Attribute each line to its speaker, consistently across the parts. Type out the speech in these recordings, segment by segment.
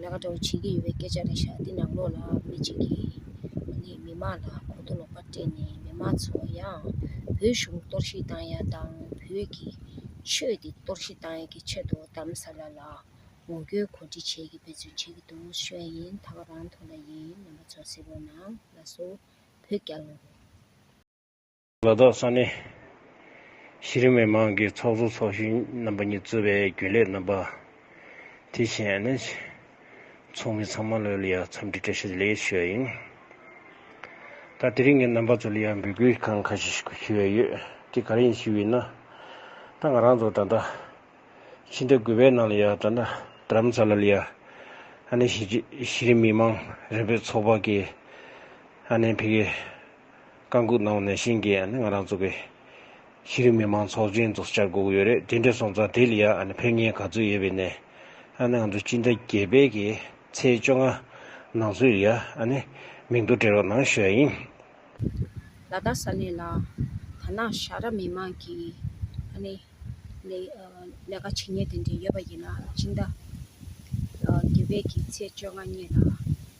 Speaker 1: ལས་ཀ་འདྲ་བོ་བྱེད་ཀྱི་ཡོད་པའི་སྐད་ཆ་རེ་བཞག་འདི་ནང་ལོགས་ལ་མི་གཅིག་གིས་ངོས་ནས་མི་མང་ལ་གོ་རྟོགས་ལོག་པ་སྤྲད་ནས་མི་མང་ཚོ་ཡང་བོད་གཞུང་གཏོར་བཤིག་བཏང་ཡག་དང་བོད་ཀྱི་ཆོས་འདི་གཏོར་བཤིག་བཏང་ཡག་གི་ཆེད་དུ་གདམ་ས་ལ་ལ་ངོ་རྒོལ་གོ་སྒྲིག་བྱེད་ཀྱི་འབད་བརྩོན་བྱེད་ཀྱི་འདུག་ཤོད་ཡིན་ད་ག་རང་ཐོག་ལ་ཡིན་རྣམ་པ་ཚོ་གསལ་པོ་གནང་ལ་སོ་བོད་རྒྱ་ལོ། ལ་
Speaker 2: དྭགས་ས་གནས་གཞི་རིམ་མི་དམངས་ཀྱི་ཚོགས་གཙོ་ཚོགས་གཞོན་རྣམ་པ་གཉིས་གཙོས་པའི་རྒྱུན་ལས་རྣམ་པ། དེ་བཞིན་ཨན་ནེ་ཆི་ཚོགས་མི་ཚང་མ་ལོས་ལི་ཡར་འཚམས་འདྲི་བཀྲ་ཤིས་ལེགས་ཞུ་བ་ཡིན། ད་དེ་རིང་གི་རྣམ་པ་ཚོ་ལི་ཡར་འབོད་སྐུལ་གང་ཁ་ཤས་ཞིག་ཞུས་བས་ཡོད། དེ་ག་རེ་ཡིན་ཞུས་ཡིན་ན། ད་ང་རང་ཚོ་ད་ལྟ་ཕྱི་དྲ་གུས་པའི་ནང་ལི་ཡར་དྲ་འདྲམ་ས་ལ་ལི་ཡར་ཨན་ནེ་ཆི་གཞི་རིམ་མི་དམངས་རེ་འབོད་ཚོགས་པ་གིས་ཨན་ནེ་ཕི་ཀེ་བཀའ་འགུག་གནང་བ་ནས་ཤིང་གི་ང་རང་ཚོ་གི་ཤེས་རིག་མི་མང་ཚོགས་ཆེན་ཚོ་བཅར་དགོས་ཀྱི་ཡོད་རེད་དེ་འདྲས་སོང་ཙང་དེ་ལ་ཡང་ཕན་ངེས་ག་ཚོད་ཡོད་པའི་ནས་ང་ཚོ་སྤྱི་ཟླ་བརྒྱད་པའི་གི་ཚེས་བཅོ་ལྔ་ནང་ཚུད་ལ་ཡང་མིང་ཐོ་སྤྲད་རོགས་གནང་ཞུ་ཡ་ཡིན།
Speaker 1: ལ་དྭགས་ས་གནས་ལ་ད་ནངས་ཤ་ར་མི་མང་གི་ལས་ཀ་བྱེད་ཉེས་དེ་འདྲས་ཡོད་པ་ཡིན་ན་སྤྱི་ཟླ་བརྒྱད་པའི་གི་ཚེས་བཅོ་ལྔ་གཉིས་ལ་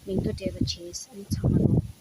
Speaker 1: མིང་ཐོ་སྤྲད་པ་བྱས་ཚང་མ་རོགས།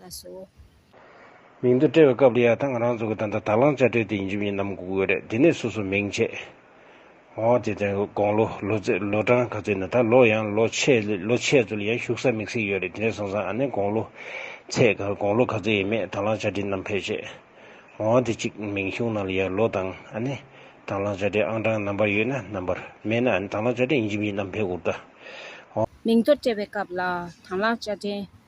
Speaker 1: ལ་སོགས། མིང་
Speaker 2: དུ་བཀྲལ་བའི་སྐབས་ལ་ཡང་དང་རང་ཚུགས་ཀྱི་དང་དང་དང་བླང་བྱ་བཀྲལ་ཏེ་ཡིན་རྒྱུ་མིན་ནམ་དགོས་དགོས་རེད་དེ་ནས་སོ་སོ་མིང་ཆད། འོ་དེ་དོན་དགོངས་ལོ་ལོ་ཚེ་ལོ་གྲངས་ག་ཚོད་ནི་ད་ལོ་ཡང་ལོ་ཆད་ལོ་ཆད་ཚོ་ལ་ཡང་ཞུགས་ས་མིག་སེ་ཡོད་རེད་དེ་ནས་བཟུང་སང་ཨ་ནེ་དགོངས་ལོ་ཚེ་ག་དགོངས་ལོ་ག་ཚོད་ཡིན་མེད་དང་བླང་བྱ་བཀྲལ་ནམ་ཕལ་ཆད། འོ་དེ་གཅིག་མིང་གཞུང་ནང་ལ་ཡང་ལོ་དང་ཨ་ནེ་དང་བླང་བྱ་བཀྲལ་ཨང་གྲངས་རྣམ་པར་ཡོད་ན་རྣམ་པར་མེད་ན་ཨ་ནེ་དང་བླང་བྱ་བཀྲལ་ཡིན་རྒྱུ་མིན་ནམ་ཕལ་དགོས་དགོས། འོ། མིང་
Speaker 1: དུ་བཀྲལ་བའི་སྐབས་ལ་དང་བླང་བྱ་བཀྲལ།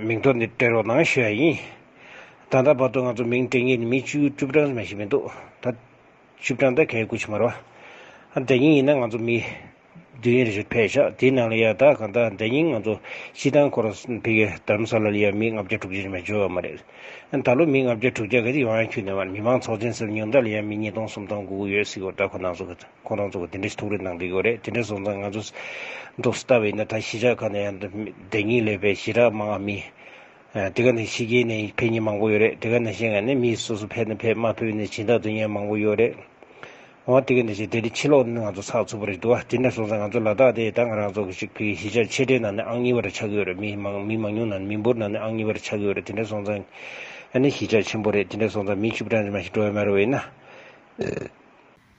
Speaker 2: མིང་ཐོ་འདི་སྤྲད་རོགས་གནང་ཞུ་ཡ་ཡིན། ད་ལྟ་བར་དུ་ང་ཚོ་མིང་སྤྲད་མཁན་ནི་མི་བཅུ་བཅུ་བགྲང་ཙམ་ཡང་ཞིག་མི་འདུག་ད། བཅུ་བགྲང་ད་ག་ཡའི་སྐུ་ཕྱི་མ་རོ། ཨ་འདྲ་ཉིན་ཡིན་ན་ང་ཚོ་མི། བདུན་ཡན་རེ་ཞིག་ཕེབས་ཤག་དེའི་ནང་ལ་ཡ་ད་ག་ད་འདྲ་ཉིན་ང་ཚོ་སྤྱི་ཐང་སྐོར་ཕེབས་ཀྱི་དར་མ་ས་ལ་ལ་ཡ་མི་ལྔ་བརྒྱ་དྲུག་བརྒྱ་ཅིག་མ་འབྱོར་བ་མ་རེད། ད་ལོ་མི་ལྔ་བརྒྱ་དྲུག་བརྒྱ་ག་ཅིག་ཡོང་ཡང་ཁྱོད་ནས་མ་རེད་མི་མང་ཚོགས་ཆེན་སེམས་ཉུང་དགྲ་ལ་ཡ་མི་གཉིས་སྟོང་གསུམ་སྟོང་དགུ་དགུ་ཡོད་སྲིད་གོ་དགྲ་ཁོ་ནང་སོ་གི། ཁོང་རང་ཚོ་དེ་འདྲའི་ཐུགས་རེ་གནང་དགོས་རེད་དེ་འདྲ་སོང་ཙང་ང་ཚོ་འདུག་སྟབས་ཡིན་ན་ད་གཞིས་ཆགས་ཁག་ནས་ཡང་བདེན་གཉིས་ལས་པའི་གཞིས་གྲགས་མང་ང་མི་དེ་ག་ནས་ཕྱི་རྒྱལ་ནས་ཕེབས་མྱི་མང་པོ་ཡོད་རེད་དེ་ག་ནས་གཞན་ང་ནས་མྱི་སོ་སོ་ཕེབས་ན་ཕེབས་མ་ཕེབས་ནས་གཞིས་བདག་དོན་གཉེར་མང་པོ་ཡོད་རེད་འོང་དེ་ག་ནས་བྱས་དེ་འདྲའི་ཕྱི་ལོག་ནི་ང་ཚོ་ཚགས་ཚུད་པོ་རེད་འདུག་དེ་འདྲ་སོང་ཙང་ང་ཚོ་ལ་དྭགས་དེ་ད་ང་རང་ཚོ་གཞིས་ཆགས་ཆེ་གྲས་ནང་ནས་ཨང་གཉིས་པ་རེ་ཆགས་ཀྱི་ཡོད་རེད་མི་མང་མི་མང་ཉུང་ནང་ནས་མི་འབོར་ནང་ནས་ཨང་གཉིས་པ་རེ་ཆགས་ཀྱི་ཡོད་རེད་དེ་འདྲ་སོང་ཙང་ནི་གཞིས་ཆགས་ཆེན་པོ་རེད་དེ་འདྲ་སོང་ཙང་མི་བཅུ་བགྲང་ཅི་མ་ཞིག་འགྲོ་ཡ་མ་རེད་འོ་ཡིན་ན།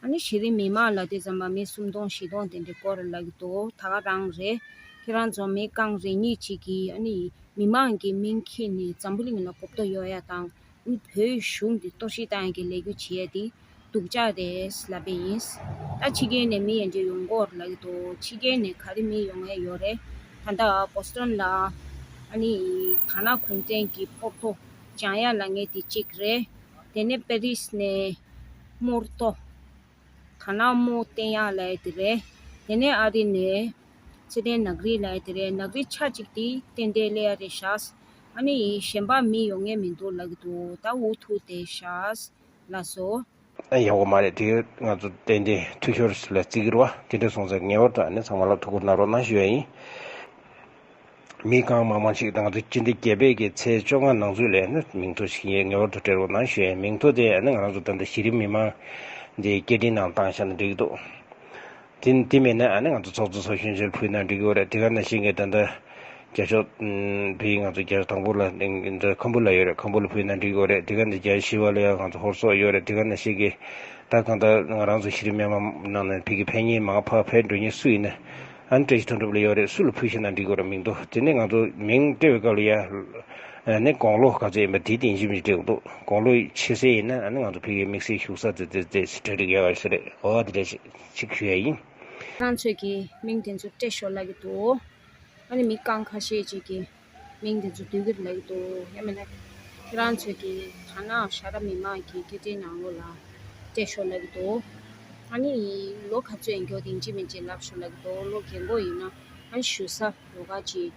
Speaker 1: ད་ནི་གཞི་རིམ་མི་དམངས་ལ་དེ་ཙམ་མ་མི་སུམ་སྟོང་བཞི་སྟོང་དེ་འདྲའི་སྐོར་ལབ་ཀྱི་འདུག་ད་ག་རང་རེད། ཁྱེད་རང་ཚོ་མི་རྐང་རེ་གཉིས་གཅིག་གིས་ཨ་ནི་མི་དམངས་ཀྱི་མིང་ཁྱེར་ནས་འཛམ་བུ་གླིང་ལ་གོ་བརྡོ་ཡོད་ཡ་དང་ཨ་ནི་བོད་གཞུང་འདི་གཏོར་བཤིག་གཏང་ཡ་གི་ལས་རྒྱུ་བྱེད་ཡ་དེ་སྡུག་ཅག་རེད་ལབ་པས་ཡིན། ད་ཕྱི་རྒྱལ་ནས་མི་ཡན་ཆད་ཡོང་སྐོར་ལབ་ཀྱི་འདུག་ཕྱི་རྒྱལ་ནས་ག་རེ་མི་ཡོང་ཡ་ཡོད་རེད་ད་ལྟ Boston ལ་ཨ་ནི་ཐ་ན་གུང་བྲན་གྱི་ཕོར་ཐོ་སྦྱང་ཡ་ལ་ངེས་དེ་གཅིག་རེད་དེ་ནས Paris ནས། དམུར་ལྟོ། ཐ་ན་དམུ་བསྟན་ཡང་ལས་དེ་རེད། དེ་ནས་ཨ་རི་ནས། ཚེ་ཏན་ནག་རིས་ལས་དེ་རེད་ནག་རིས་ཆ་གཅིག་དེ་བསྟན་དེ་ལས་ཨ་རི་བཞགས། ཨ་ནི་ཡིན་གཞན་པ་མི་ཡོང་ངེས་མི་འདུག་ལབ་གི་འདུག་ད་འུ་ཐུག་དེ་བཞགས། ལ་སོ། ཨ་ཡག་པོ་མ་
Speaker 2: རེད་དེ་ང་ཚོ་བསྟན་དེ་འཐུས་ཤོར་ལས་བརྩི་གིར་བ་དེ་འདྲ་སོང་ཚེ་ངེས་པར་དུ་ཨ་ནི་ཚང་མ་ལ་ཐུགས་ཁུར་གནང་རོགས་གནང་ཞུ་ཡ་ཡིན། མི་གང་མང་མང་ཞིག་དང་དུས་ཀྱི་འདི་རྒྱལ་བས་ཀྱི་ཚེས་བཅོ་ལྔ་ནང་ཚུད་ལས་ནི་མིང་ཐོ་ཞིག་ངའི་ངེས་པར་དུ་སྤྲད་རོགས་གནང་ཞུས་མིང་ཐོ་དེ་ནི་ང་རང་ཚོ་ད་ལྟ་གཞི་རིམ་མི་མང་འདིའི་སྐད་འཕྲིན་ནང་བཏང་ཤག་ན་འགྲིག་འདུག་དེ་དེ་མེད་ན་ང་ཚོ་ཚོགས་གཙོ་ཚོགས་གཞོན་ཆེར་ཕུལ་ན་འགྲིག་གི་རེད་དེ་ག་ནང་བཞིན་གྱི་ད་ལྟ་རྒྱ་ཕྱོགས་བོད་ཡིག་ང་ཚོ་རྒྱ་དང་པོ་ལ་ཁམ་བུ་ལ་ཡོད་རེད་ཁམ་བུ་ལ་ཕུལ་ན་འགྲིག་གི་རེད་དེ་ག་འདི་རྒྱ་ཞི་བ་ལ་ཡང་ང་ཚོ་ཧོར་སོག་ཡོད་རེད་དེ་ག་ནང་བཞིན་གྱི་ད་གང་ལྟར་ང་རང་ཚོ་གཞི་རིམ་མི་མང་ནང་ནས་བོད་ཀྱི་ཕན་ཉེས་མང་ཕག་ཕལ་འགྲོ་ཉེས་སུ་ཡིན་ན། ཨ་ནི་བཀྲ་ཤིས་དོན་གྲུབ་ལ་ཡོད་རེད་སུ་ལ་ཕུལ་ཤེ་ན་འགྲིག་གོ་ར་མིང་འདུག་དེ་ནས་ང་ཚོ་མིང་སྤྲད་བའི་སྐབས་ལ་ཡ། ཨ་ནི་དགོང་ལོ་ག་ཚོད་ཡིན་པ་དེའི་སྟེང་ཞིབ་འཇུག་བྱེད་དགོས་འདུག་དགོང་ལོ་ཕྱེད་ཟེར་ཡིན་ན་ཨ་ནི་ང་ཚོ་ཕེབས་ཡས་དམིགས་བསལ་བཞུགས་ས་དེ་དེ་དེ་དྲ་སྒྲིག་ཡས་ག་ཞིག་རེད་འོ་དེ་འདྲ་ཞིག་ཞུ་ཡས་ཡིན། ཁྱེད་རང་ཚོས་ཀྱི་
Speaker 1: མིང་དེ་ཚོ་སྤྲད་ཤོར་ལ་གི་འདུག་ཨ་ནི་མི་གང་ག་ཤེས་བྱས་ཀྱི། གླིང་དེ་ཚོ་དུས་ཀྱི་ལེགས་འདུག་ཡིན་མི་ལེགས། ཁྱེད་རང་ཚོས་ཀྱི་ཐ་ན་ཤ་ར་མི་མང་གི་སྐད་འཕྲིན་ནང་ལོ་ལ་སྤྲད་ཤོག་ལེགས་འདུག་ཨ་ནི་ལོ་ག་ཚོད་ཡིན་མགྱོགས་དེང་ཅི་མིན་ཅི་ལབ་ཤོག་ལེགས་འདུག་ལོ་རྒན་འགོ་ཡིན་ན་ཨ་ཞུ་ས་རུ་ཁག་ཅིག་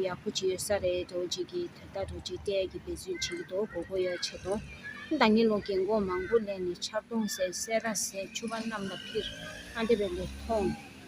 Speaker 1: ཡག་པོ་ཅིག་ཡོད་ས་རེད་གྲོགས་གཅིག་གི་ད་ལྟ་གྲོགས་གཅིག་སྤྲད་ཀྱི་འབད་བརྩོན་བྱེད་ཀྱི་འདུག་གོ་གོ་ཡོད་བྱེད་དོ་ད་ནི་ལོ་རྒན་འགོ་མང་པོ་གླས་ནས་ཆར་གདུང་ཟེར་སེ་ར་ཟེར་ཆུ་བ་གནམ་ལ་འཕིར་ཨ་འདི་བས་ལེགས་མཐོང།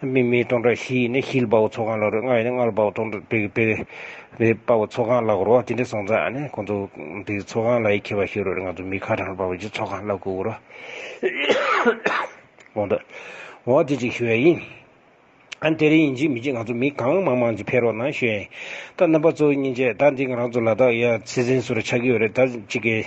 Speaker 2: སྨིན་མའི་སྟོང་ཕྲག་བཞི་ཡིས་ནི་ཤེལ་དཔའ་བོ་ཚོགས་ཁང་ལག་རོའི་རྔ་ཡིས་ནི་རྔ་ལ་དཔའ་བོ་སྟོང་ཕྲག་དྲུག་གིས་དཔའ་བོ་ཚོགས་ཁང་ལག་རོ་ཅི་འདྲའི་སོང་ཙང་ནི་ཁོང་ཚོ་དེའི་ཚོགས་ཁང་ལ་ཡིད་ཁྱེར་བ་ཞིག་རོ་ང་ཚོ་མི་ཁ་གྲངས་ལ་དཔའ་བོ་ཀྱི་ཚོགས་ཁང་ལ་བཀུར་རོ། གོང་དུ་འོག་དེ་གཅིག་ཞུ་བ་ཡིན། ཨ་དེ་རིང་ཡིན་གཅིག་མི་གཅིག་ང་ཚོ་མི་གང་མང་མང་གཅིག་ཕེབས་རོགས་གནང་ཞུ་ཡ་ཡིན། ད་རྣམ་པ་གཙོ་བོ་གཉིས་བྱས་ད་འདི་ང་རང་ཚོ་ལ་དྭགས་ཡ་ཚེ་ཟིན་སུ་ར་ཆགས་ཀྱི་ཡོད་རེད་ད་གཅིག་གིས་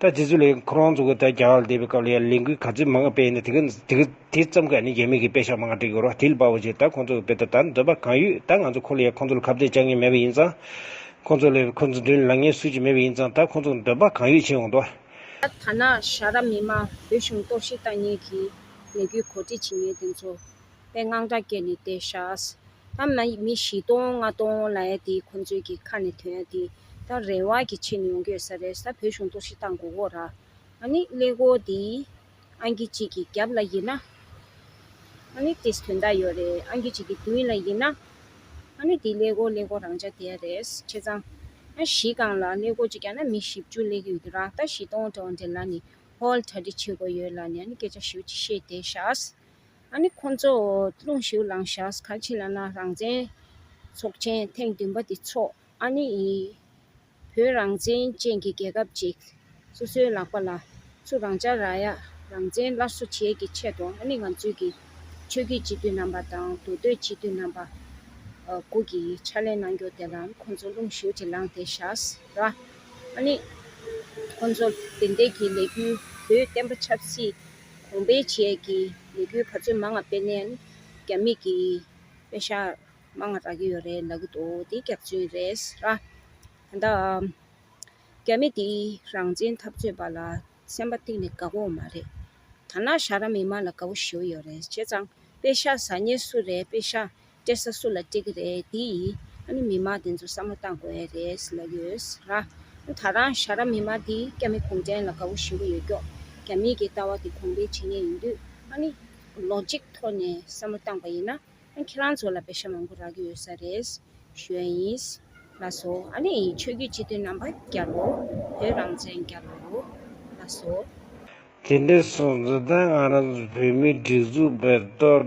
Speaker 2: ད་དེ་ཚོ་ལས་ཁོ་རང་ཚོ་གི་ད་རྒྱ་གར་ལ་བསྡད་པའི་སྐབས་ལ་ཡང་ལས་འགུལ་ག་ཚོད་མང་སྤེལ་ནས་དེ་གི་དེ་གི་དེ་ཙམ་གས་ནི་རྒྱ་མི་གི་དཔེ་ཞག་མང་སྒྲིག་དགོས་རོགས་དེ་ལ་དཔའ་བོ་ཅིག་ད་ཁོང་ཚོ་གི་དཔེ་ད་ད་འདོད་པ་གང་ཡོད་ད་ང་ཚོ་ཁོ་ལ་ཡང་ཁོང་ཚོ་ལ་ཁ་བརྡས་བཅག་ངེས་མེད་པ་ཡིན་ཙང། ཁོང་ཚོ་ལས་ཁོང་ཚོ་མདུན་ལ་ལངས་ངེས་སུ་ཅིག་མེད་པ་ཡིན་ཙང་ད་ཁོང་ཚོ་གི་འདོད་པ་གང་ཡོད་བྱེད་འོང་དོ། ད་ཐ་ན་
Speaker 1: ཤ་ར་མི་དམངས་བོད་གཞུང་གཏོར་བཤིག་བཏང་ཉེས་ཀྱི་ལས་འགུལ་གོ་སྒྲིག་བྱེད་མཁན་དེ་ཚོ། པའི་དངངས་སྐྲག་སྐྱེས་ནས་བལྟས་ཤག། ཨམ་ན་མི་བཞི་སྟོང་ལྔ་སྟོང་ལ་ཡ་དེ་ཁོང་ཚོའི་གི་ཁ་ནས་དོན་ཡ་དེ་ད་རེ་བ་གི་ཕྱི་ནས་ཡོང་གི་ཡོད་ས་རེད་ས་བོད་གཞུང་གཏོར་བཤིག་བཏང་གོ་གོ་ར། ཨ་ནི་ཀླད་ཀོ་དེ་ཨང་ཀི་གཅིག་གི་རྒྱབ་ལ་ཡིན་ན། ཨ་ནི་དེས་དོན་དག་ཡོད་རེད་ཨང་ཀི་གཅིག་གི་མདུན་ལ་ཡིན་ན། ཨ་ནི་དེ་ཀླད་ཀོ་ཀླད་ཀོ་རང་ཅག་དེ་ཡ་རེད་ཁྱེད་ཚང་ཨ་བཞི་སྒང་ལ་ཀླད་ཀོ་གཅིག་ཀྱང་ན་མི་བཞི་བཅུ་ཀླད་ཀི་ཡོད་དུ་རང་ལྟ་བཞི་སྟོང་བྲེ་བ་འདྲེ་ལ་ནི་ཧོལ་གྲ་སྒྲིག་བྱེད་དགོས་ཡོད་ལ་ནི་ཨ་ནི་སྐད་ཆ་ཞིབ་ཅིག་བཤད་བལྟས་ཤག། ཨ་ནི་ཁོ་ཚོ་རླུང་ཞུགས་ལང་ཤགས་ཁ་ཕྱི་ལ་ན་རང་བཙན་ཚོགས་ཆེན་ཐེངས་བདུན་པ་དེ་འཚོགས་ཨ་ནི་ཡི། བོད་རང་བཙན་ཅན་གྱི་རྒྱལ་ཁབ་ཅིག་སོ་སོའི་ལག་པ་ལ་ཚུར་རང་ཅག་ར་ཡག་རང་བཙན་སླར་གསོ་བྱེད་ཀྱི་ཆེད་དུ་ཨ་ནི་ང་ཚོས་ཀྱི་ཆོས་བརྒྱུད་སྤྱི་འཐུས་རྣམ་པ་དང་འདུ་སྡོད་སྤྱི་འཐུས་རྣམ་པ་དགུ་གྱི་ཕྱག་ལས་གནང་རྒྱུ་དེ་ལ་ཁོ་ཚོ་རླུང་ཞུགས་ཅིག་ལང་དེ་ཤགས་ར། ཨ་ནི་ཁོ་ཚོ་དེ་འདས་ཀྱི་ལས་རྒྱུ་བོད་བསྟན་པ་ཆབ་སྲིད། གོང་སྤེལ་བཅས་ཀྱི་ལས་འགུལ་བར་ཆོད་མ་ལྔ་སྤེལ་ནས་ནི་རྒྱ་མིས་ཀྱི་དཔེ་ཞྭ་མ་ལྔ་རག་གི་ཡོད་རེད་ལབ་གི་འདུག་དེ་སྐྱག་རྫུན་རེད་ས། ད་ལྟ་རྒྱ་མི་འདིས་རང་བཙན་འཐབ་རྩོད་པ་ལ་སེམས་པ་གཏིང་ནས་དགའ་པོ་མ་རེད། ཐ་ན་ཞྭ་ར་མི་མང་ལ་དགའ་པོ་ཞུ་གི་ཡོད་རེད་བྱས་ཙང་དཔེ་ཞྭ་ཟ་ཉེ་སུ་རེད་དཔེ་ཞྭ་སྤྲད་ས་སུ་ལ་སྤྲད་ཀྱི་རེད་འདི་ཡིས་ཨ་ནི་མི་མང་དེ་ཚོ་བསམ་བློ་བཏང་དགོས་ཨེ་རེད་ལབ་ཡོད་ལ། ད་རང་ཞྭ་ར་མི་མང་འདིས་སྐྱ་མི་གུང་ཁྲན་ལ་དགའ་བོ་ཞིམ་པོ་ཡོད་སྐྱོག་རྒྱ་མིས་ཀྱི་ལྟ་བ་དེ་གོང་འཕེལ་བྱེད་ངེས་ཡིན་དུས་ཨ་ནི་ལོ་གཅིག་ཐོག་ནས་བསམ་བློ་བཏང་པ་ཡིན་ན་ཁྱེད་རང་ཚོ་ལ་བེ་ཤ་མང་པོ་རག་གི་ཡོད་ས་རེད་ཞོན་ཡིན་ལ་སོ་ཨ་ནི་ཆོས་རྒྱུད་སྤྱི་མཐུན་རྣམ་པ་བསྐྱར་རོ་བོད་རང་བཙན་བསྐྱར་རོ་ལ་སོ། དེ་འདྲའི་
Speaker 2: སོང་ཚོད་ད་ང་རང་ཚོ་བོད་མིའི་སྒྲིག་འཛུགས་པས་གཏོར།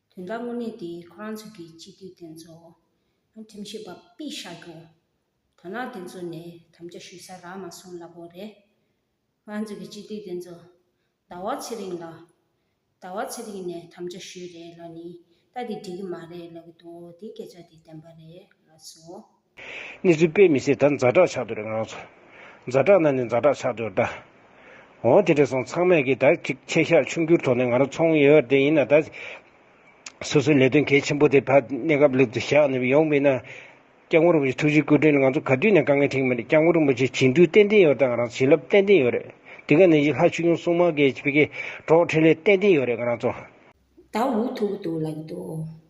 Speaker 2: དོན་དག་
Speaker 1: དངོས་གནས་དེ་ཁོ་རང་ཚོ་གི་སྤྱི་འཐུས་དེ་ཚོ་ཡང་ཁྲིམས་ཞིབ་པ་པི་བཞག་རྒྱུ། དོན་དག་དེ་ཚོ་ནས་དམ་བཅའ་ཞུས་ས་རག་མ་སོང་ལབ་བོ་རེད། ང་ཚོ་གི་སྤྱི་འཐུས་དེ་ཚོ་ཟླ་བ་ཚེ་རིང་ལ། ཟླ་བ་ཚེ་རིང་ནས་དམ་བཅའ་ཞུས་རེད་ལབ་ནི་ལྟ་དེ་འགྲིག་གི་མ་རེད་ལབ་གི་འདུག་དེ་སྐད་ཆ་དེ་བདེན་པ་རེད་ལབ་སོང། ནི་རིགས་
Speaker 2: པས་མི་ཤེས་ད་འཛའ་དྲག་ཆགས་འདུག་རེ་ང་རང་ཚོ་འཛའ་དྲག་ན་ནི་འཛའ་དྲག་ཆགས་འདུག་ད། འོང་དེ་འདྲས་སོང་ཚང་མས་གིས་ད་ཅིག་ཆེ་ཤག་ཆུང་འགྱུར་ཐོག་ནས་ང་རང་ཚོ་འོང་ཡོད་ཡོད་དེ་ཡིན་ན་ད། སོ་སོའི་ལས་དོན་གལ་ཆེན་པོ་དེ་ད་གནས་སྐབས་ལེགས་སུ་བཞག་ནས་ཡོང་མིན་ན། སྐྱབས་མགོན་རིན་པོ་ཆེ་ཐུགས་རྗེའི་སྐུ་དྲིན་ལ་ང་ཚོ་ག་དུས་ནས་དཀའ་ངལ་འཕྲིངས་མི་རེད་སྐྱབས་མགོན་རིན་པོ་ཆེ་བྱིན་མཐུ་ཏན་ཏན་ཡོད་ད་ང་རང་ཚོ་བྱིན་རླབས་ཏན་ཏན་ཡོད་རེད་དེ་ག་ནས་ཡིད་ལྷ་ཆོས་སྐྱོང་སྲུང་མ་གེ་ཆི་ཕེ་ཁེ་གྲོགས་ཕྲིན་ལས་ཏན་ཏན་ཡོད་རེད་ང་རང་ཚོ། ད་འུ་
Speaker 1: ཐུག་གི་འདུག་ལབ་གི་འདུག།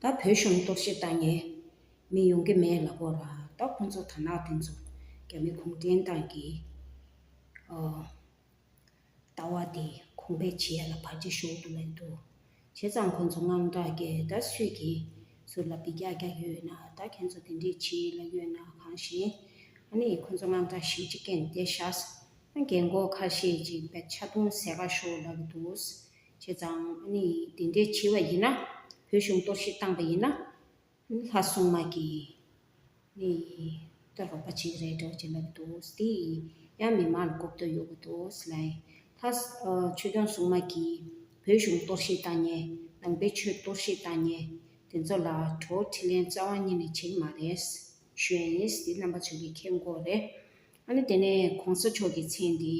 Speaker 1: ད་བོད་གཞུང་གཏོར་བཤིག་བཏང་ནས་མི་ཡོང་གི་མེད་ལ་བོར་བ་ད་ཁོང་ཚོ་དར་ནག་དེ་ཚོ་རྒྱ་མི་གུང་ཁྲན་ཏང་གི་ལྟ་བ་དེ་གོང་འཕེལ་བྱེད་ཡ་ལ་བར་ཆད་ཞུགས་འདུག་ལེན་འདུག་བྱས་ཙང་ཁོང་ཚོ་དངངས་སྐྲག་རྒྱས་ད་སུས་ཀྱི་ཟུར་ལ་བི་གྱག་གྱག་ཡོད་ན་ད་ཁྱེད་ཚོ་དེ་འདྲས་བྱེད་ཡི་ལ་ཡོད་ན་གང་ཞེན་ཨ་ནི་ཁོང་ཚོ་དངངས་སྐྲག་ཞིག་ཅིག་སྐྱེན་བསྡད་ཤགས་ཨ་རྒན་འགོ་ཁ་ཤས་ཅིག་བད་ཆ་བཏུང་ཟས་ཁ་ཤོག་ལབ་གི་འདུག། བྱས་ཙང་ནི་དེ་འདྲའི་བྱས་བ་ཡིན་ན། བོད་གཞུང་གཏོར་བཤིག་བཏང་པ་ཡིན་ན། ལྷ་སྲུང་མ་གིས་ནི་སྟོན་རོགས་པ་ཅིག་རེད་འདྲ་བ་ཅིག་ལབ་གི་འདུག་དེ་ཡང་མི་མང་ལ་གོ་བསྡུར་ཡོད་དགོས་འདུག་སི་ལའི། ལྷ། ཆོས་སྐྱོང་སྲུང་མ་གིས་བོད་གཞུང་གཏོར་བཤིག་བཏང་ཉེ། ནང་པའི་ཆོས་གཏོར་བཤིག་བཏང་ཉེ། དེ་ཚོ་ལ་གྲོ་བོ་ཁྲི་ལན་རྩ་བ་གཉིས་ནས་བྱེད་ཀྱི་མ་རེད། གཞོན་ཡིན་དེ་རྣམ་པ་ཚོས་ཀྱི་ཁེ་མགོ་རེད། ཨ་ནི་དེ་ནས་གོང་ས་མཆོག་གི་མཚན་འདི་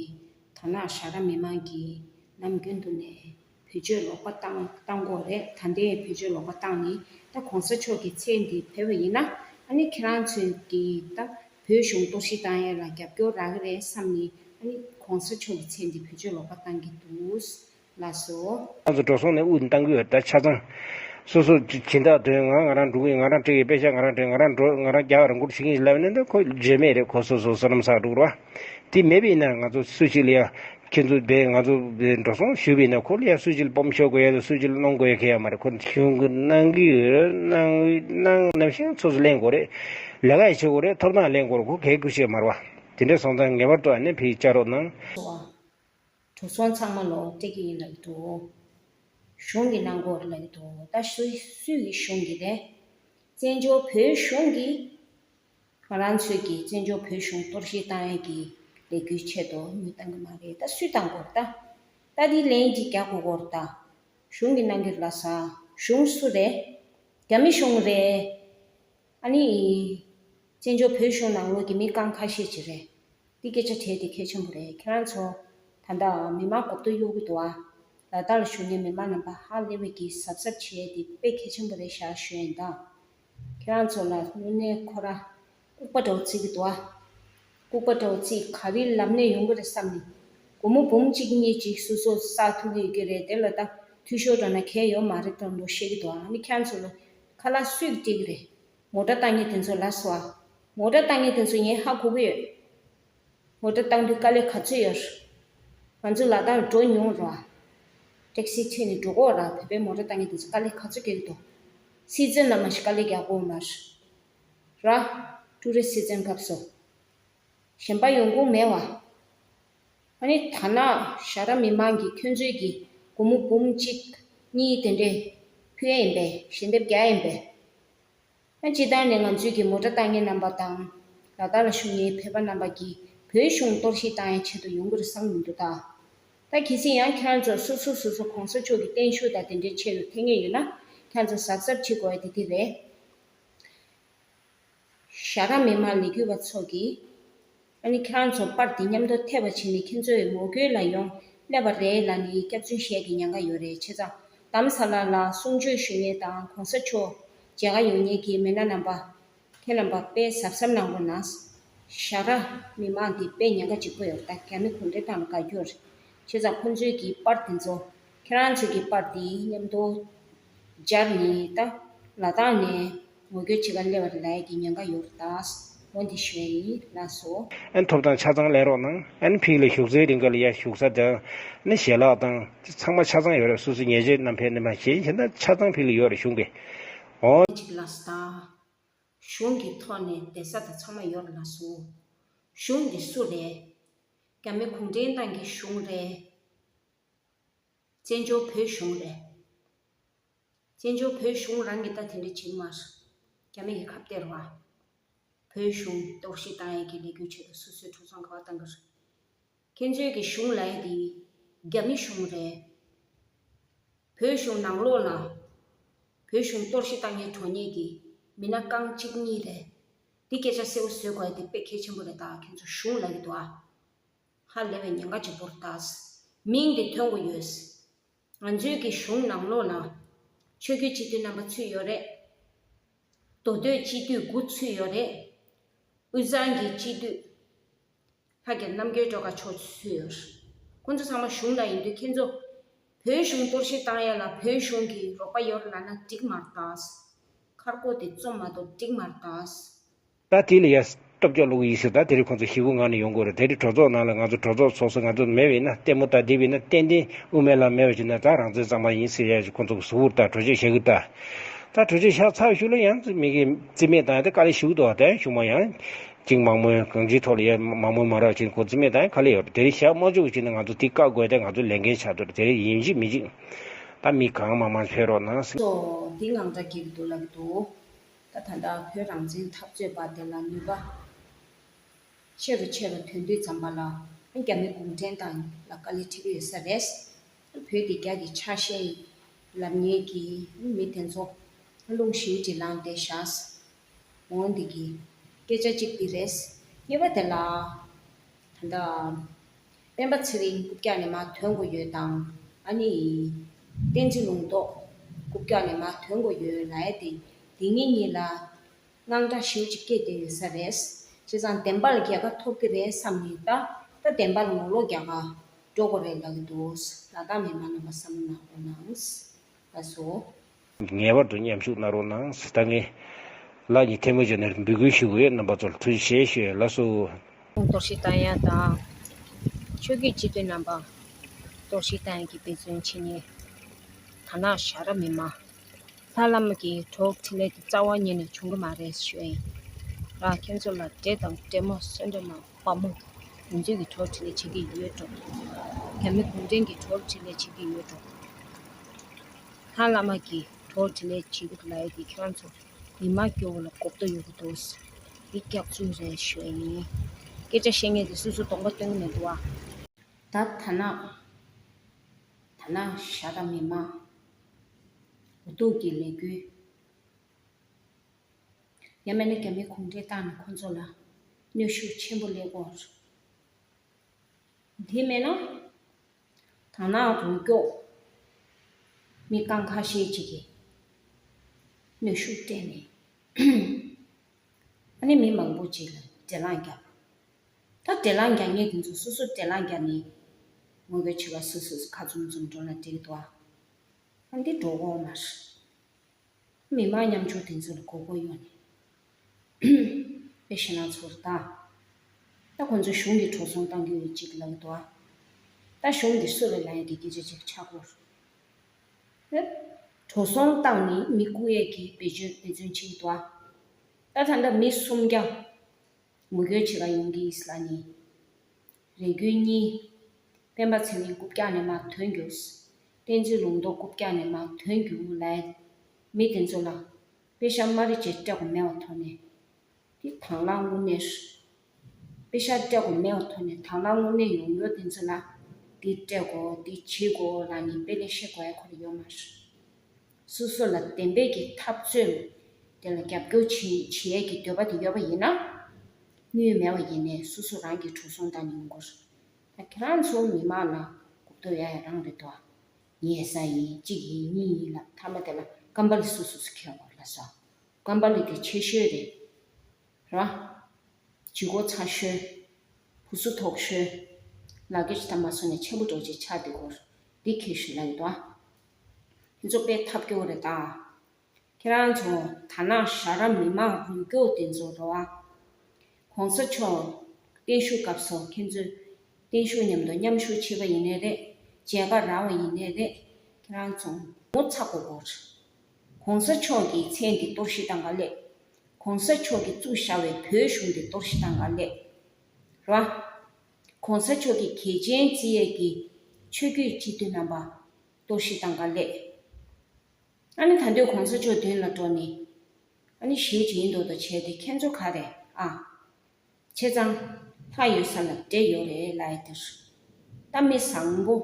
Speaker 1: དོ་ནག་ཞྭ་ར་མི་མང་གིས་ནམ་རྒྱུན་དུ་ནས་བེད་སྤྱོད་ལོག་པ་བཏང་བཏང་གོ་རེད་ད་འདི་བེད་སྤྱོད་ལོག་པ་བཏང་ནི་ད་གོང་ས་མཆོག་གི་མཚན་འདི་བེད་པ་ཡིན་ན་ཨ་ནི་ཁྱེད་རང་ཚོས་ཀྱི་ད་བོད་གཞུང་གཏོར་བཤིག་བཏང་ཡས་ལ་རྒྱབ་སྐྱོར་རག་གི་རེད་བསམ་ནི་ཨ་ནི་གོང་ས་མཆོག་གི་མཚན་འདི་བེད་སྤྱོད་ལོག་པ་བཏང་གི་འདུག་ལ་སོགས། ལྷ་ཚོགས་འགྲོ་སོང་ནས་དབུགས་
Speaker 2: འདང་གི་འདྲ་ཆ་ཚང། སོ་སོ་སྦྱིན་བདག་དོན་ང་ང་རང་འགྲོ་གི་ང་རང་བྲེལ་གི་དཔེ་ཆ་ང་རང་བྲེལ་ང་རང་འགྲོ་ང་རང་རྒྱག་རང་འཁུར་བྱེད་ཀྱི་ལབ་ནས་འདི་ཁོ་བརྗོད་མེད་རེད་ཁོ་སོ་སོ་སོ་ནམ་ཟག་འགྲོ་གི་རེད་བ། དེ་མེད་པའི་ན་ང་ཚོ་སུ་ཞིག་ལ་ཡང་ཁྱེད་ཚོ་བས་ང་ཚོ་བས་འགྲོ་སོང་ཞུ་བའི་ན་ཁོ་ལ་ཡང་སུ་ཞིག་ལ་སྤོམ་ཤོར་དགོས་ཡ་ལ་སུ་ཞིག་ལ་གནོང་དགོས་ཡ་ཁེ་ཡ་མ་རེད་ཁོ། གཞུང་གི་གནང་གི་གནང་གནང་ནམ་ཞིང་ཚོ་སོ་ལེན་དགོས་རེད། ལས་ཀ་ཡ་བྱེད་དགོས་རེད་ཐོབ་ཐང་ལེན་དགོས་རེད་ཁོ་གལ་དགོས་བྱེད་མ་རེད་བ། དེ་འདྲ་སོང་ཙང་ངེས་པར་དུ་ཨ་ནེ་བྷེ་ཡི་བཅའ་རོགས་གནང། སོགས།
Speaker 1: དྲུག་ཚོང་ཚང་མ་ལོག་སྤྲད་ཀྱི་ཡིན་ལབ་ཀྱི་འདུག་གཞུང་གི་གནང་སྒོ་རེད་ལབ་ཀྱི་འདུག་ད་སུ་སུ་ཡི་གཞུང་གི་རེད། བཙན་བྱོལ་བོད་གཞུང་གི། ང་རང་ཚོས་ཀྱིས་བཙན་བྱོལ་བོད་གཞུང་གཏོར་བཤིག་བཏང་ཡན་གྱི་ལས་འགུལ་ཆེད་དུ་མི་བཏང་གི་མ་རེད་ད་སུས་བཏང་གོ་ད། ད་དེའི་ལན་གཅིག་རྒྱག་དགོས་གོ་རེད་ད། གཞུང་གི་གནང་གི་ལ་ས་གཞུང་སུ་རེད། རྒྱ་མི་གཞུང་རེད། ཨ་ནི། བཙན་བྱོལ་བོད་གཞུང་ནང་ངོས་ཀྱི་མི་རྐང་ཁ་ཤས་ཀྱི་རེད། འདི་སྐད་ཆ་དྲན་དེ་གལ་ཆེན་པོ་རེད་ཁྱེད་རང་ཚོ། ད་ལྟ་མི་མང་གོ་བསྡུར་གཡོ་གུ་འདུག་ཨ། ལ་དྭགས་ལ་བཞུགས་ནས་མི་མང་རྣམ་པ་ཧ་ལས་བས་ཀྱི་གཟབ་གཟབ་བྱས་དེ་དཔེ་གལ་ཆེན་པོ་རེད་ཤག་ཤོད་ཨེ་འདག། ཁྱེད་རང་ཚོ་ལ་དངོས་གནས་ཁོ་ར་ལྐུག་པ་འདྲ་བོ་བརྩི་གི་འདུག་ཨ། ལྐུག་པ་འདྲ་བོ་བརྩི་ག་རི་ལབ་ནས་ཡོང་གི་རེད་བསམ་ནས། སྒོར་མོ་འབུམ་གཅིག་གཉིས་གཅིག་སུ་སོ་བསགས་ཐུག་གི་ཡོད་ཀྱི་རེད་དེ་ལ་ད་འཐུས་ཤོར་འགྲོ་ན་གལ་ཡོད་མ་རེད་དང་ལོ་བཤད་གི་འདུག་ཨ་ནི་ཁྱེད་རང་ཚོ་ལ་ཁ་ལ་སུས་སྤྲད་གི་རེད། ངོ་སྒྲ་བཏང་ཉིན་དེ་ཚོ་ལ་སོ་ཨ། ངོ་སྒྲ་བཏང་ཉིན་དེ་ཚོ་ངས་ཧ་གོ་གི་ཡོད། ངོ་སྒྲ་བཏང་དུས་དཀའ་ལས་ག་ཚོད་ཡོད། ང་ཚོས་ལག་གདང་སྒྲོག་མྱོང་རོགས་ཨ། ཏེག་སི་ཁྲིད་ནས་འགྲོ་གོ་ར་བོད་པའི་ངོ་སྒྲ་བཏང་ཉིན་དེ་ཚོ་དཀའ་ལས་ག་ཚོད་རྒྱག་གི་འདུག། སྲིད་བཙོན་ལ་མ་ཤི་དཀའ་ལས་རྒྱག་གོ་མ་ར། ཀྲུའུ་རེན་སྲིད་བཙོན་སྐབས་སོ། གཞན་པ་ཡོང་གོང་མེད་བ། ཨ་ནི་ཐ་ན་ཤ་ར་མི་མང་གི་ཁྱོད་ཚོའི་གི་གུ་མོ་འབུམ་གཅིག་གཉིས་དེ་འདྲས་ཕུལ་ཡིན་པས་ཞལ་འདེབས་རྒྱག་ཡིན་པས། ཨ་སྤྱི་དང་ནི་ང་ཚོའི་གི་མོ་དྲ་བཏང་མཁན་རྣམ་པ་དང་ལ་དྭགས་ལ་ཞུགས་མཁན་ཕལ་པ་རྣམ་པ་གི་བོད་གཞུང་གཏོར་བཤིག་བཏང་ཡའི་ཆེད་དུ་ཡོང་གི་རེད་བསམ་གྱི་འདུག་ད། ད་གལ་སྲིད་ཡང་ཁྱོད་ཚོ་སོ་སོ་སོ་སོ་གོང་ས་མཆོག་གི་བརྟན་བཞུགས་དང་དེ་འདྲའི་ཆེད་དུ་ཐེ་ངེས་ཡོད་ན་ཁྱོད་ཚོ་གཟབ་གཟབ་བྱེད་དགོས་དེ་དེ་རེད། ཤ་ར་མི་མང་ལས་འགུལ་བ་ཚོ་གི། ཨ་ནི་ཁྱེད་རང་ཚོ་དཔར་འདི་མཉམ་དུ་ཐེ་བ་བྱེད་ནི་ཁྱེད་ཚོའི་ངོ་རྒོལ་ལ་ཡོང་སླད་པ་རེད་ལ་ནི་སྐྱག་རྫུན་བཤད་ཀྱི་ཉན་ག་ཡོད་རེད་ཆེ་ཚང་དམ་ས་ལ་ལ་གསུང་ཆོས་ཞུ་ཉན་དང་གོང་ས་མཆོག་མཇལ་ག་ཡོང་ཉན་གི་མེད་ན་རྣམ་པ་ཁྱེད་རྣམ་པ་དཔེ་ཟབ་ཟབ་གནང་རོགས་གནང། ཞག་ར། མི་མང་འདི་དཔེ་ཉན་ག་ཅིག་པོ་ཡོད་ད་ག་མི་གོ་འདྲེ་དང་ལ་ག་གྱུར། ཆེ་ཚང་ཁོང་ཚོའི་གི་དཔར་འདི་ཚོ་ཁྱེད་རང་ཚོའི་གི་དཔར་འདི་མཉམ་དུ། སྦྱར་ནས་ད་ལ་དང་ནས་ངོ་སྐྱོད་བྱེད་ཀ་སླེ་བ་རེ་ལ་ཡ་གི་ཉན་ག་ཡོར་དྭགས་མོ་འདི་ཞོན་ཡིན་ལ་སོ། ཨན་ཐོབ་དང་ཆ་ཚང་
Speaker 2: ལེན་རོགས་གནང་ཨན་ཕིག་ལ་བཞུགས་སའི་རིང་ག་ལ་ཡ་བཞུགས་ས་དང་ནི་ཞལ་ལག་དང་ཅི་ཚང་མ་ཆ་ཚང་ཡོ་རེད་སུ་སི་ཉེ་ཆེ་རྣམ་ཕལ་ནི་མ་ཞེན་བྱེད་ན་ཆ་ཚང་ཕིག་ལ་ཡོ་རེད་གཞུང་གི་ཨོ། ཨན་ཕིག་ལ་
Speaker 1: སི་དང་གཞུང་གི་ཐོག་ནས་བསྡད་ས་དང་ཚང་མ་ཡོ་རེད་ལ་སོ། གཞུང་འདི་སུ་རེད། རྒྱ་མི་གུང་ཁྲན་ཏང་གི་གཞུང་རེད། བཙན་བྱོལ་བོད་གཞུང་རེད། བཙན་བྱོལ་བོད་གཞུང་རང་གིས་ད་དེ་འདྲས་བྱེད་མ་སོང། རྒྱ་མི་གི་ཁབ་སྟེར་བ། བོད་གཞུང་གཏོར་བཤིག་བཏང་ཡས་ཀྱི་ལས་འགུལ་བྱེད་དུ་སུ་སུའི་འཁྲུག་ཚོང་ག་བ་བཏང་གི་རེད། ཁྱེད་ཚོའི་གི་གཞུང་ལ་ཡས་དེ་རྒྱ་མི་གཞུང་རེད། བོད་གཞུང་ནང་ལོགས་ལ། བོད་གཞུང་གཏོར་བཤིག་བཏང་ཡས་གྲོ་ནས་ཀྱི་མི་སྣ་རྐང་གཅིག་གཉིས་རེད། དེ་སྐད་ཆ་གསལ་བོ་བཟོས་དགོས་ཡས་དེ་དཔེ་གལ་ཆེན་པོ་རེད་ད་ཁྱེད་ཚོ་གཞུང་ལ་ཡོད་དོ་ཨ། ཧ་ལས་པའི་ཉེན་ཁ་ཆེན་པོར་བཏགས། མིང་འདི་ཐོས་མགོ་ཡོད། ང་ཚོའི་གི་གཞུང་ནང་ལོགས་ན། ཆོས་རྒྱུད་སྤྱི་འཐུས་རྣམ་པ་ཚུད་ཡོད་རེད། མདོ་སྟོད་སྤྱི་འཐུས་དགུ་ཚུད་ཡོད་རེད། དབུས་གཙང་གི་སྤྱི་འཐུས། ལྷ་རྒྱལ་རྣམ་རྒྱལ་སྒྲོལ་དཀར་མཆོག་ཚུད་ཡོད། ཁོང་ཚོ་ཚང་མ་གཞུང་ནང་ཡིན་དུས་ཁྱེད་ཚོ། བོད་གཞུང་གཏོར་བཤིག་བཏང་ཡ་ལ་བོད་གཞུང་གི་རོགས་པ་ཡོད་རེད་ལབ་ན་འགྲིག་མ་རེད། མཁར་སྒོ་དེ་བཙོམ་མ་གཏོགས་འགྲིག་མ་རེད། ད་དེ་ལ་ཡ།
Speaker 2: སྟོབས་རྒྱག་ལུགས་ཡིན་སྲིད་ད་དེ་རིང་ཁོང་ཚོ་ཞི་བོའི་ངང་ནས་ཡོང་དགོས་རེད་དེ་རིང་གྲོས་ཚོགས་ནང་ལ་ང་ཚོ་གྲོས་ཚོགས་ཚོགས་སུ་ང་ཚོ་མེད་བས་ན་ལྟད་མོ་ད་དེ་བས་ན་ཏན་ཏན་དབུ་མའི་ལམ་མེད་བ་ཞིག་ན་ད་རང་བཙན་གཙང་མ་ཡིན་སྲིད་ཡ་ཞེས་ཁོང་ཚོ་གི་ཟུར་བོར་ད་གྲོས་ཆོད་བཤད་གི་ད་ད་གྲོས་ཆོད་བཤགས་ཚར་ཞུ་ལ་ཡང་རྩིས་མེད་གི་རྩིས་མེད་དང་ཡང་ད་ག་ལེ་ཞུ་གི་འདུག་ཨ་ད་ཡང་ཞུ་མ་ཡང། ཅིང་མང་མོས་གང་ཅིའི་ཐོག་ལ་ཡ་མང་མོས་མ་རག་བྱས་ནས་ཁོ་རྩིས་མེད་དང་ཡང་ག་ལེ་ཡོད་རེད་དེ་རིང་བཤགས་མ་བཅུག་གི་བྱས་ན་ང་ཚོ་དེ་བཀག་དགོས་ད་ང་ཚོ་ལས་འགན་ཆགས་འདུག་རེད་དེ་རིང་ཡིན་གཅིག་མིན་གཅིག་ད་མི་གང་མང་མང་ཕེབས་རོགས་གནང། སོ། དེ་འང་
Speaker 1: འདྲ་གི་འདུག་ལབ་འདུག། ད་ད་ལྟ་བོད་རང་བཙན་འཐབ་རྩོད་པ་དེ་ལ་ནུས་པ་ཆེ་རུ་ཆེ་རུ་དོན་དུས་བརྩམས་པ་ལ་རྒྱ་མི་གུང་ཁྲན་ཏང་ལ་དཀའ་ལས་འཕྲད་ཀྱི་ཡོད་ས་རེད། བོད་འདི་རྒྱ་གི་ཆ་ཤས་ཡིན་ལབ་ཉེས་ཀྱི་མི་དེ་ཚོ་རླུང་ཞིམ་གྱི་ལངས་ཏེ་བཞག་འོང་འདི་གི་སྐད་ཆ་གཅིག་འདི་རེད། ཉེས་པ་དེ་ལ། ད་ལྟ་སྤེན་པ་ཚེ་རིང་རྐུབ་བཀྱག་ནས་མ་དོན་གོ་ཡོད་དང་ཨ་ནི། བསྟན་འཛིན་ལུང་རྟོགས་རྐུབ་བཀྱག་ནས་མ་དོན་གོ་ཡོད་ལ་ཨེ་དེ་འདི་གཉིས་གཉིས་ལ་དངངས་སྐྲག་ཞེའུ་ཅིག་སྐྱེས་བསྡད་ཡོད་ས་རེད། བྱས་ཙང་བདེན་པ་ལ་རྒྱལ་ཁ་ཐོབ་ཀྱི་རེད་བསམ་ནས་ད་ལྟ་བདེན་པ་ལ་ངོ་ལོག་རྒྱག་ག་འགྲོ་གོ་རེད་ལབ་ཀྱི་འདུག་ལ་དྭགས་མི་མང་རྣམས་པ་བསམ་བློ་གནང་རོགས་གནང། ད་སོ། ངེས་པར་དུ་
Speaker 2: མཉམ་ཞུགས་གནང་རོགས་གནང། ད་ངས། ལགས་ཀྱི་ཐལ་མོ་བརྗོད་ནས་འབོད་སྐུལ་ཞུ་གི་ཡོད་རྣམ་པ་ཚོར་ཐུགས་རྗེ་ཆེ་ཞུ་ཡ་ལགས་སོ། དོགས་གཞི་དང་ཡང་
Speaker 1: དང། ཆོས་རྒྱུད་སྤྱི་འཐུས་རྣམ་པ། དོགས་གཞི་དང་ཡང་གི་དཔེ་མཚོན་ཆེ་ཉེ། དར་ནག་ཞྭ་ར་མི་མང། ལྷ་བླ་མ་གི་གྲོགས་ཁྲི་ལས་ཀྱི་རྩ་བ་ཉིད་ནས་བྱུང་གི་མ་རེད་ཞུ་ཡིན། ལགས་ཁྱེད་ཚོ་ལ་འབྲེལ་དང་འབྲེལ་མོ་གསོལ་འདེབས་གནང། བ་མོ། གུང་བྲན་གྱི་གྲོགས་བྱེད་ལས་བྱེད་ཀྱི་ཡོད་འགྲོ། རྒྱ་མི་གུང་བྲན་གྱི་གྲོགས་བྱེད་ལས་བྱེད་ཀྱི་ཡོད་འགྲོ། ལྷ་བླ་མ་གྱི་གྲོགས་བྱེད་ལས་བྱེད་ཀྱི་ལ་ཡོད་འདི་ཁྱོད་ཚོ་མི་དམངས་སྐྱོ་བོ་ལ་གོ་བརྡོ་ཡོད་གི་འདུག་འདི་སྐྱག་རྫུན་རེད་ཤོད་ཡིན། སྐད་ཆ་བཤད་ངེས་དེ་སུ་སུ་དོགས་པ་སྟོན་གྱི་མེད་འདུག་བ། ད་ཐ་ན། ཐ་ན་ཤ་ད་མི་དམངས། གོ་བརྡོ་གྱི་ལས་འགུལ། ཡ་མེ་ལ་རྒྱ་མིའི་གུང་ཁྲན་ཏང་ནི་ཁོ་ཚོ་ལ་གནོད་ཤུགས་ཆེན་པོ་སླེབས་སྐོར། དེ་མེད་ན། དར་ནག་རྒྱུགས་སྐྱོགས་མི་རྐང་ཁ་ཤས་ཅིག་གིས་གནོད་ཤུགས་སྤྲད་ནས། ཨ་ནེ་མི་མང་པོ་ཅིག་ལ་བགྲེས་ལངས་རྒྱག། ད་བགྲེས་ལངས་རྒྱག་ཉེས་དེ་ཚོ་སོ་སོ་བགྲེས་ལངས་རྒྱག་ནས། ངོ་བོས་བྱིས་པ་སུ་སུ་ཁ་ཙུམ་ཙུམ་འགྲོ་ལ་འགྲིག་འདུག་ཨ། འདི་འགྲོ་འོག་མ་རེད། མི་དམངས་མཉམ་སྤྱོད་དེ་ཚོ་ལ་མགོ་སྐོར་གཡོག་ནས། པའི་ཞེ་སྣང་ཚོར་ད། ད་ཁོང་ཚོས་གཞུང་གི་གྲོགས་ཚོང་གཏང་རྒྱུ་ཡོད་ཅིག་ལབ་འདུག་ཨ། ད་གཞུང་འདི་གསོད་ལ་ལ་ཡིན་གི་སྐད་ཆ་ཅིག་ཆ་སྐོར། ཨེ། གྲོགས་ཚོང་གཏང་ནི་མི་སྐུ་ཡས་ཀྱི་བེད་སྤྱོད་དཔེ་མཚོན་ཅིག་འདུག་ཨ། ད་ད་ལྟ་མི་སུམ་བརྒྱ། ངོ་རྒོལ་བྱེད་ཀ་ཡོང་གི་ཨིས་ལ་ནི། རེ་དགུའི་གཉིས། སྤེན་པ་ཚེ་རིང་རྐུབ་བཀྱག་ནས་མར་དོན་གྱུར། བསྟན་འཛིན་ལུང་རྟོགས་རྐུབ་བཀྱག་ནས་མར་དོན་གྱུར་ལ། མི་དེ་ཚོ་ལ། དཔེ་ཤར་མ་རེད་ཅེས་སྐྲག་གོ་མེད་བ་ཐོག་ནས། དེ་དྭང་བླངས་དངོས་གནས། དཔེ་ཤར་སྐྲག་གོ་མེད་བ་ཐོག་ནས་དྭང་བླངས་དངོས་གནས་ཡོང་ཡོད་དེ་ཚོ་ལ། འདི་སྤྲད་གོ་འདི་བྱེད་གོ་ལ་ནི་དཔེ་ལས་ཤེས་དགོས་ཁོ་རེ་ཡོད་མ་རེད། སོ་སོ་ལ་བདེན་པའི་གི་འཐབ་རྩོད་དེ་ལ་རྒྱབ་སྐྱོར་བྱེད་ཡས་གི་འདོད་པ་དེ་ཡོད་པ་ཡིན་ན། དངུལ་མེད་བ་ཡིན་ནས་སོ་སོ་རང་གི་གྲུ་ཟུང་དང་ཉུང་གུར་དང་ཁྱེད་རང་ཚོ་མི་མང་ལ་གོ་བསྡུར་ཡ་ཡ་རང་རེད་དོ། ངས་ས་ཡིན་གཅིག་ཡིན་གཉིས་ཡིན་ལབ་མཐའ་མ་དེ་ལ་སྐམ་པ་ལི་སུ་སུ་སུ་ཁེལ་བ་ལ་ཟོ། སྐམ་པ་ལི་དེ་ཆེ་ཤོས་རེད། ར། ཇི་གོ་ཚ་ཤོས། བུ་སུ་ཐོག་ཤོས། ལག་ཁྱེར་ཇི་ད་མ་སོ་ནས་ཆེན་པོ་འགྲོ་ཅེས་ཆགས་འདི་གོར་འདི་ཁེལ་ཤོས་ལ་ཡོད་དོ། རྫོགས་པའི་ཐབས་སྐྱོ་རེ་དང། ཁྱེད་རང་ཚོ་ད་ནངས་ཞྭ་ར་མི་མང་རུལ་སྐྱོ་དེ་ཚོ་རེད་བ། གོང་ས་མཆོག་བརྟན་བཞུགས་སྐབས་སོ་ཁྱེད་ཚོ་བརྟན་བཞུགས་མཉམ་དུ་མཉམ་བཞུགས་བྱེད་པ་ཡིན་ནི་རེད་མཇལ་ཁ་རག་བ་ཡིན་ནི་རེད་ཁྱེད་རང་ཚོ་ངོ་ཚ་གོ་གོ། གོང་ས་མཆོག་གི་མཚན་འདི་གཏོར་ཤི་དང་ག་ལེ། གོང་ས་མཆོག་གི་བཙུགས་ཤྭ་བའི་བོད་གཞུང་འདི་གཏོར་ཤི་དང་ག་ལེ། རེད་བ། ྋགོང་ས་མཆོག་གི་གལ་ཆེན་བརྩི་ཡས་ཀྱི་ཆོས་བརྒྱུད་སྤྱི་མཐུན་རྣམ་པ་གཏོར་བཤིག་དང་དཀའ་ལས། ཨ་ནི་ད་འདོད ྋགོང་ས་མཆོག་མདུན་ལ་འགྲོ་ནི། ཨ་ནི་གཞིས་བྱེས་ཡིན་མདོག་མདོག་བྱས་ཏེ་ཁྱེད་ཚོ་ག་རེ་ཨ། ཆེ་ཚང། ལྷ་ཡོད་ས་ལ་འདྲེ་ཡོད་རེད་ལ་ཨེ་འདིར། གཏམ་མི་བཟང་པོ།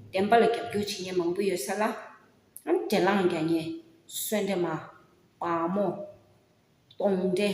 Speaker 1: བདེན་པ་ལ་རྒྱབ་སྐྱོར་བྱེད་མཁན་མང་པོ་ཡོད་ས་ལ། ཨ་ནི་འདྲེ་ལངས་རྒྱ་ཉེ། གསོན་འདྲེ་མ། བག་མོ། གདོང་འདྲེ།